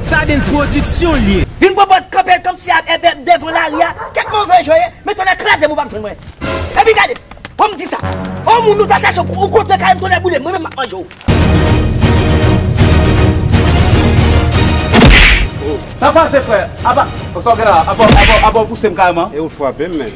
Stardens production l ye. Vin pran pòz kanpe l kòmsi ak èbè devan lari a, kèk move jwè, men tonnè kraze m ou pap jwenn mwen. Epi gade, bon m di sa, on moun ou ta chache ou kontre kay m tonnè boule m, mwen menm m ap manje w. Sa pase frè, apa, sa w gen la, apa, apa, apa w pouse m kareman. E ou t frape m menn.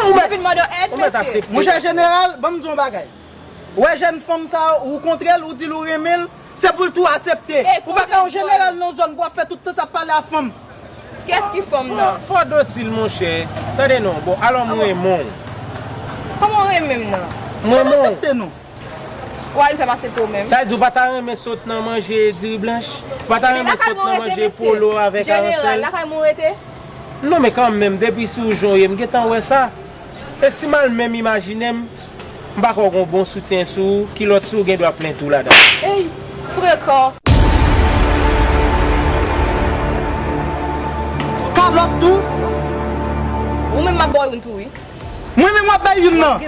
Ou te vin mande yo èd mesye? Monchè jeneral, ban m di w yon bagay. Ou wè jèn fanm sa a, ou kontre l, ou di l ou renmen l, se pou l tou asepte. Ou pa ka yon jeneral nan yon zòn pou w ap fè tout tan sa ap pale a fanm. Kiyès ki fanm nan an? Fò dosil monchè. Tande non, bon, alò m renmen w. Kòman w renmen m nan? M renmen w. Fò l asepte non. W'al fèm asepte w menm. Sa di w pa ta renmen sot nan manje diri blanch? Ou pa ta renmen sot nan manje polo avèk aransèl? Lakay mwen rete. Non men kan menm depi si w jan w ye m gentan wè sa. E si m al menm imajine m m pa kwè w gen yon bon soutyen sou ou, kilòt sou ou gen dwa plen tou ladan. Eyy! Frekan! Kalòt tou? Ou menm m ap ba w youn tou wi. Mwen menm wap bay youn nan.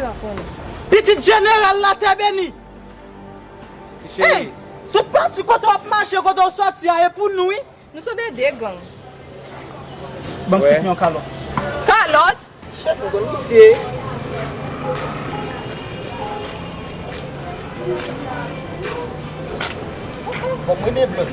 Pitit jeneral la tè beni. Ey tout pati kote wap mache kote ou soti a e pou nou wi. Nou sanble de gang. Banm fout yon kalòt. Kalòt? Chèf nou konn misye. Fòk mwen de blòd.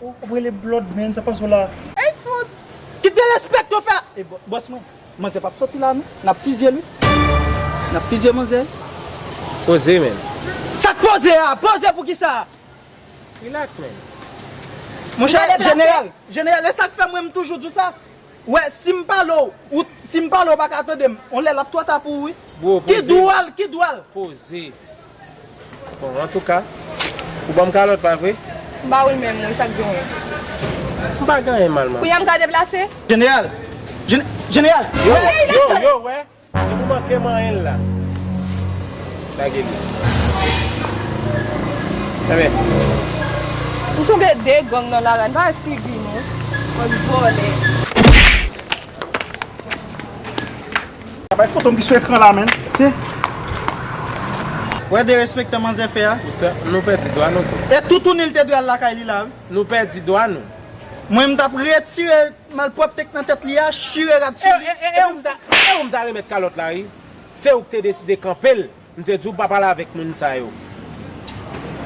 Ou ap rele blood man sa pase w la. Ey fout! Ki derespect yo fè a? E boss mwen, manzè pap soti la non, nap fizye l wi. Nap fizye manzè. Poze man. Sak poze a? Poze pou kisa? Relax man. Monchè jeneral, jeneral e sak fè mwen m toujou di w sa? Ou wè si m pale w, ou si m pale w ou paka tande m, yon lè lap twò ta pou ou wi. Bro poze. Ki dwòl, ki dwòl. Poze. Bon antouka Ou banm kalòt pa vre? M ba ou l menm wi sak gen wi? M pa gen anyen mal man. Kounya m ka deplase? Jeneral! Jeneral! Yo! Yo wè depi w manke manyen l la. Lage li. Anben. Nou sanble de gang nan lari a n pa wè figi nou bann vòlè. Pa bay fotom ki sou ekran la menn. Wè derespektan manzè fè a. Nou pèdi dwa nou tou. E toutouni li te dwe al lakay li la wi. Nou pèdi dwa nou. Mwen m tap retire malpwopte k nan tèt li a, chire rad sou li. E ou m ta remèt kalòt la wi. Se ou k te deside kanpe l. M te di w pa pale avèk moun sa yo.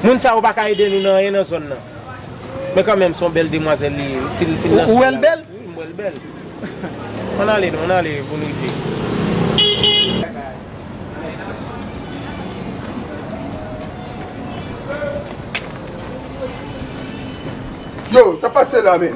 Moun sa yo pa ka ede nou nan anyen nan zòn nan. Men kanmenm se yon bèl demwazèl li ye wi si li fin nan sou la. Ou wè l bèl? Wi m wè l bèl. Ann ale nou, ann ale pou n rive. Yo, sa k pase la menm?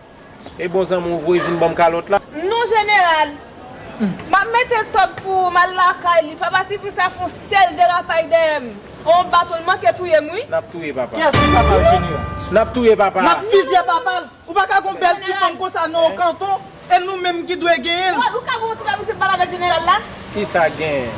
E bon zanmi w voye vin banm kalòt la. Non jeneral. Map mete tòg pou ou mal lakay li pa pati pou sa fon sèl derapay dèyè m on baton l manke touye m wi. Nap touye papa. Kiyès ki papa w jeneral. Nap touye papa. Nap fizye papa l. Ou pa ka gon bèl ti fanm konsa non kanton e nou menm ki dwe genyen l. Ou ka gon ti bagay pou se pale avèk jeneral la. Kisa gen?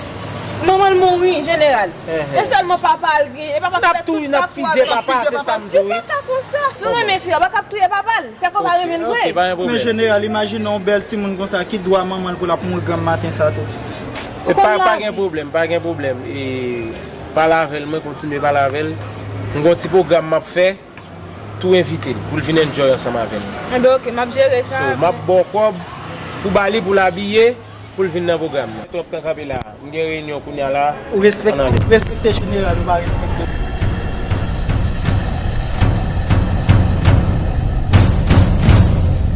Manman l mouri, jeneral. E sèlman papa l gen. E papa m fè tout sa pou al fè fize papa l. Li pa ta konsa. Si w renmen fi a, w pa kab touye papa l. Fè k wè w pa renmen l vre. Men jeneral, imajine yon bèl timoun konsa, ki dwa manman l pou l ap mouri granm maten sa tou? Ou konn lavi. Pa gen pwoblèm, pa gen pwoblèm. Pale avè l, mwen kontinye pale avè l. M gen yon ti pwogram m ap fè. tou envitel poul vin enjoy ansanm avè nou. Enben ok map jere sa. So map baw kob pou bali poul abiye poul vin nan pwogram nan. Twòp tan kanpe la m gen reyinyon kounya la an ale. Ou respekte jeneral ou pa respekte l.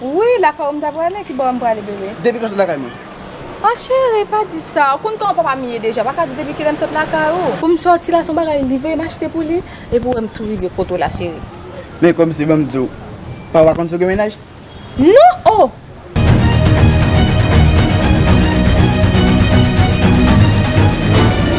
Wi lakay ou m ta prale ki bò a m prale bebe. Depi kilè w sot lakay mwen. Ah chéri pa di sa ou konn kòman papa m ye deja ou pa ka di depi kilè m sot lakay ou. Pou m sòti la son bagay li voye m achte pou li epi ou wè m tou rive kot ou la chéri. Men kòmsi ban m di w pa ou pa konn si w gen mennaj. Non oh.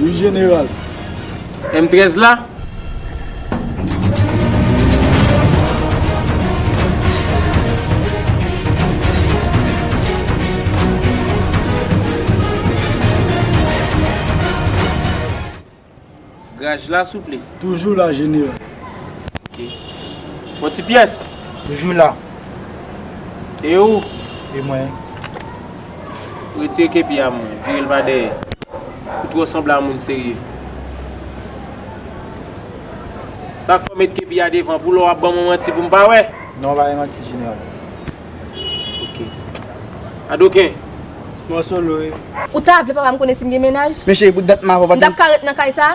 Wi jeneral. M 13 la? Graj la souple. Toujou la jeneral. Ok. Bon ti pyès. Toujou la. E ou? E mwen. Retire kepi a mwen. Vire l pa dèyè. Ou twò sanble a moun serye. Sa k fè w met kepi a devan? Pou lò w ap ban mwen manti pou m pa wè? Non m pa bay manti jeneral. Ok. Adoken. Mò solo e. Ou ta vle papa m konnen si m gen mennaj? Mesye, bout dent m ap ap ap. M t ap ka ret nan kay sa?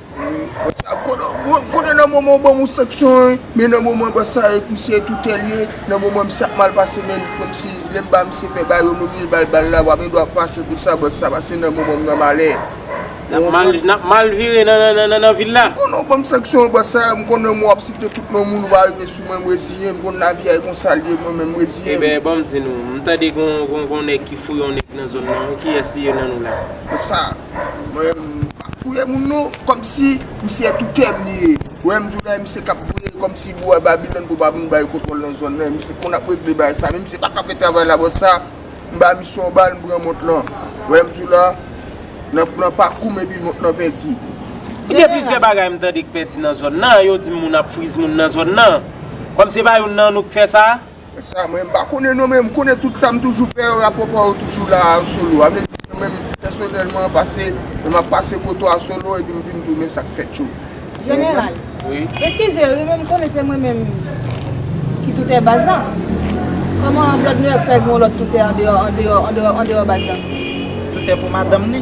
Konnen nan moman ou banm ou sanksyon an, men nan moman bò sa e misye e tou tèlye, nan moman misye ap mal pase men kòm si lèm ba misye fè ba yo m oblije bal bal la, wap gen dwa fache pou sa bòs sa pase nan moman m nan malè. Nap mal vire nan vil la. M konnen ou banm sanksyon an bòs sa, m konnen m wap site tout non moun ou va rive sou mwen m reziyen m konn lavi a e konsa l ye mwen menm m reziyen m. Eben banm di nou, m tande gon nèg ki fouye yon nèg nan zòn nan wi kiyès li ye nan nou la? Bòs sa. Mwen pap fouye moun non, kòmsi misye tou kèm li ye. Wè m di w la e misye kap gouye kòmsi bwa Babilòn pou pa vin bay kontwòl nan zòn nan e misye konn ap regle bagay sa men misye paka fè travay la bò sa m ba misye yon bal m pran mont lan wè m di w la nan nan pakou m epi mont lan pèdi. Mwen gen plizyè bagay m tande k pèdi nan zòn nan yo di m moun ap friz moun nan zòn nan kòm se pa youn nan nou k fè sa. Sa mwen pa konnen non men m konnen tout sa m toujou fè yo rapò pa yo toujou la a solo a vle di mwen menm pèsonèlman pase lè m ap pase koto a solo epi m vin tounen sa k fèt yo Jeneral Eskize wi men m konnen se mwen menm ki toutè baz la Kòman Blòd Nouyòk fè gen yon lòt toutè andeyò andeyò andeyò baz la? Toutè pou madanm ni?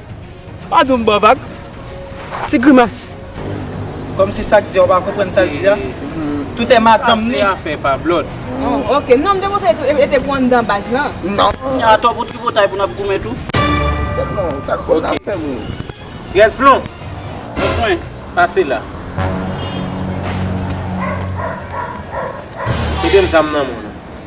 Padon m ba vag. Ti grimas. Kòm si sak di a ou pa konprann sal di a. Tout è madanm li. Sa se afè pa blòd. Oh ok non m te konse e te pou anndan baz lan. Non. Kounya atò pou tripotay pou nap goumen tou. Bon sak bon nap fè moun. Rès plon. Answen pase la. Kite m zam nan moun.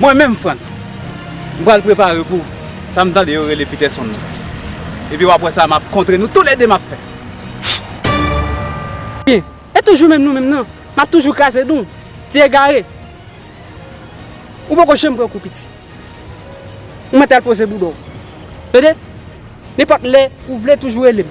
Mwen menm Frantz, m pral prepare pou sa m tande yo rele Peterson nan. Epi w ap wè sa m ap kontre nou toulede m ap fè. Byen, e toujou menm nou menm nan, n ap toujou kraze dou. Ti egare! Ou poko janm pran kou piti. Ou mèt al poze bouda w. Tande! Nenpòt lè ou vle toujou rele m.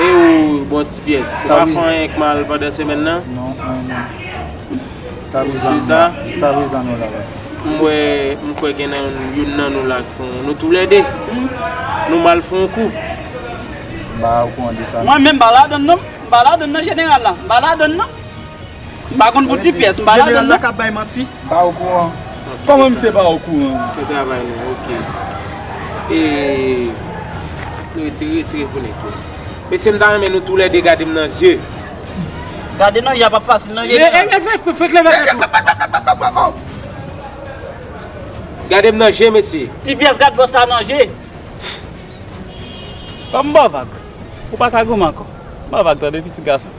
E ou bon ti pyès. Ou pa fè anyen k mal pandan semèn nan? Non anyen menm. Ou si sa? Jiskaprezan nou la wi. M wè, m kwè gen nan youn nan nou la k fon, nou tou lè 2, nou mal fon yon kou. M pa okouran de sa non. Mwen menm m pa ladann non. M pa ladann nan jeneral la. M pa ladann nan. M pa konn pou ti pyès, m pa ladan l non. M pa okouran. Kòman misye pa okouran? Fè travay nou an ok. E Nou retire retire pou nèg yo. Mesye m ta renmen nou tou lè 2 gade m nan zye. Gade nan yap ap fasil nan vye sa. Fèk leve tèt ou. Gade m nan je mesye. Ti pyès gad bòs la nan je. Fòk m ba w vag. Ou pa ka gou m ankò. Ba vag tande piti gason.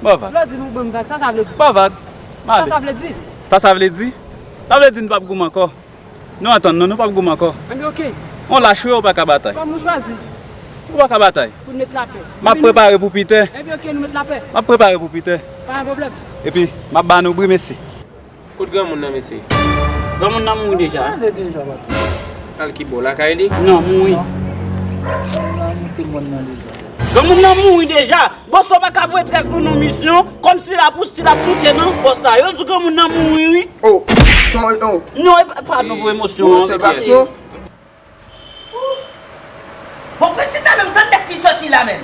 Ba vag. Lò di m ou ban m vag, sa sa vle di? Ba vag. M ale. Sa sa vle di? Sa sa vle di? Sa vle di n pap goumen ankò. Nou antann nou, nou pap goumen ankò. Anben ok. Ou lach wi, ou pa ka batay. Kòm ou chwazi. Ou pa ka batay. Pou n met lapè. M ap prepare pou Piter. Anben ok, nou met lapè. M ap prepare pou Piter. Pa gen pwoblèm. Epi, m ap ba nou bri mesye. Kot granmoun nan mesye? Granmoun nan mouri deja. Al ki bò? Lakay li? Non, mouri. Granmoun nan mouri deja. Bòs la pa ka voye tres pou nou misyon. Kòm si la poussi la poute nan. Bòs la yo di granmoun nan mouri wi. Oh! Son oh! Non, e pa nou pou emosyon. Bon se vak son. Ooh Bon Princita menm tann dat li soti la menm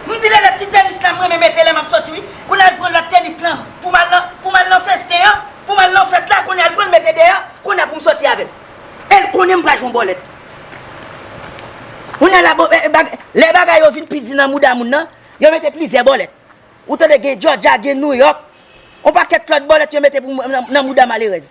M di Lele ti tenis lan m renmen mete lè map soti wi Kounye a l pran lòt tenis lan pou m al nan pou m al nan festen an pou m al nan fèt la kounye a l pran l mete deyò kounye a pou m soti avè l e l konnen m pral jwenn bòlèt Kounye a la bon lè bagay yo vin pi di nan mouda moun nan yo mete plizyè bòlèt ou tande gen jòja gen nouyòk on pakèt lòt bòlèt yo mete pou m nan mouda malerèz.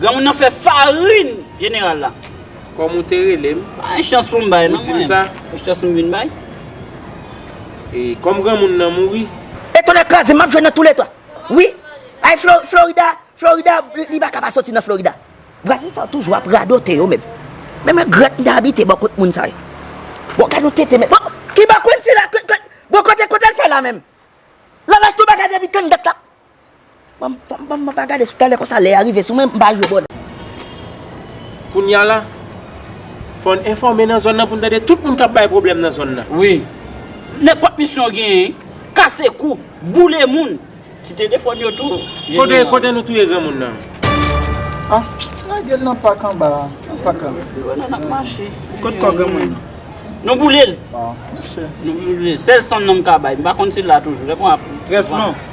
Granmoun nan fè farin jeneral la. Kòm ou te rele m. Pa gen chans pou m bay non mwen. Ou di m sa. Ou chans m vin bay. E kòm granmoun nan mouri. E tonnè kraze m m ap jwenn nan tou le 3. Wi. Ay Florida, Florida li pa ka pa soti nan Florida. Vwazen sa yo toujou ap radote yo menm. Men mwen grèt m te abite bò kot moun sa yo. Bon gad yon tete men. Bon ki bò konn sila. Bon kote l fè la menm. Lalaj tou bagay depi kann dat la. Mwen pa gade sou tèlè konsa lè a rive sou mwen mpa jwe bòdè. Kounya la Fò n enfòme nan zòn nan pou n tande tout moun kap bay pwoblèm nan zòn nan. Wi. Nenpòt misyon yo genyen. Kase kou. Boule moun. Ti telefòn yo tou. Kote kote nou touye granmoun nan. Ah lage l nan pak anba a. Nan pak la. Yo wè nou nap mache. Kot kò granmoun nan. Nou boule l. Ah misye. Nou boule l. Sèl san nan m ka bay. M pa konn si l la toujou. Lè m wè ap. Trèsman.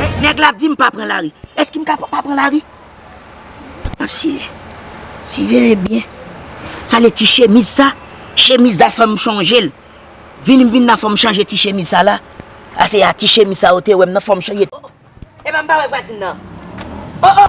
Eh nèg la ap dim pa pran lari eske m ka pa pran lari map siye siveye byen sa le ti chemiz sa chemiz sa fèm sonjel vini m vin nan fòm chanje ti chemiz sa la a se a ti chemiz sa ou te wèm nan fòm chanje oh epa m pa wè vwazin nan oh oh.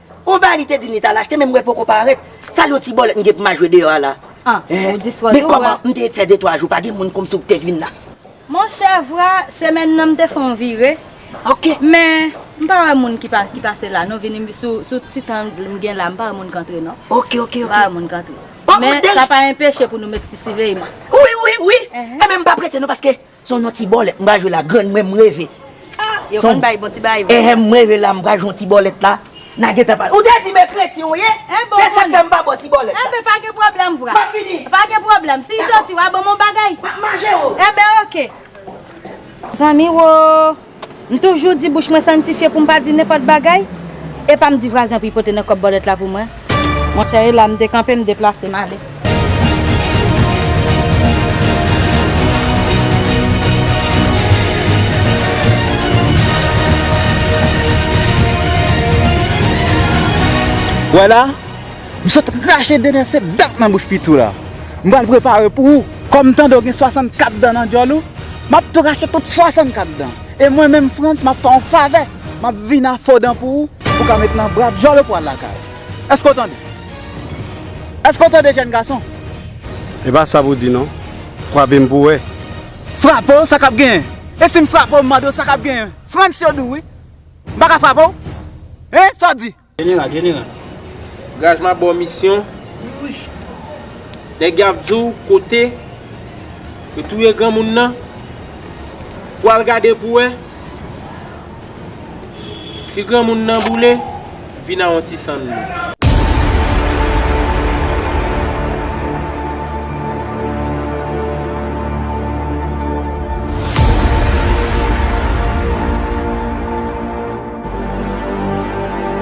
On bagay li te dim li tal achte men mwen poko parèt, sa l yon ti bòlèt m gen pou ma jwe deyò a la? Anh ou di swa tou vra. Men kòman m te ret fè 2 3 jou pa gen moun kòmsi ou k te k vin la. Monchè vra semèn nan m te fon vire men m pa wè moun ki pa ki pase la non vini sou ti tan m gen la m pa wè moun k antre non. Ok ok ok. M pa wè moun k antre. Men sa pa enpeche pou nou met ti siveyman. Wi wi wi, men m pa prete non paske Son yon ti bòlèt m pral jwe la grann mwen m reve son eeh m reve la m pral jwe yon ti bòlèt la na gentan pale ou te di men kretyen w ye se sak fè m pa bò ti bòlèt la map fini dakò map manje oo. M toujou di bouch mwen santifye pou m pa di nenpòt bagay, e pa m di vwazen pou y pote nan kòb bòlèt la pou mwen. Monchè e la m dekanpe m deplase m ale. Wè la, m sot rache dènye set dan nan bouch piti w la. M pral prepare pou ou. Kòm tande w gen 64 dan nan djòl ou, m ap tou rache tout 64 dan. E mwen menm Frantz, m ap fè w yon favè, m ap vin a fo dan pou ou, pou w ka met nan bra djòl ou pou w al lakay ou. Èske w tande? Èske w tande jèn gason? E pa sa pou w di non. Frape m pou w wè. Frape w, sa k ap genyen? E si m frape w, m mande w sa k ap genyen? Frantz yo di w wi. M pa ka frape w? Hein, sa w di? General general Gaz map baw misyon Nèg yo ap diw kote Yo touye granmoun nan Pou al gade pou wè Si granmoun nan boule Vin a yon ti san dlo.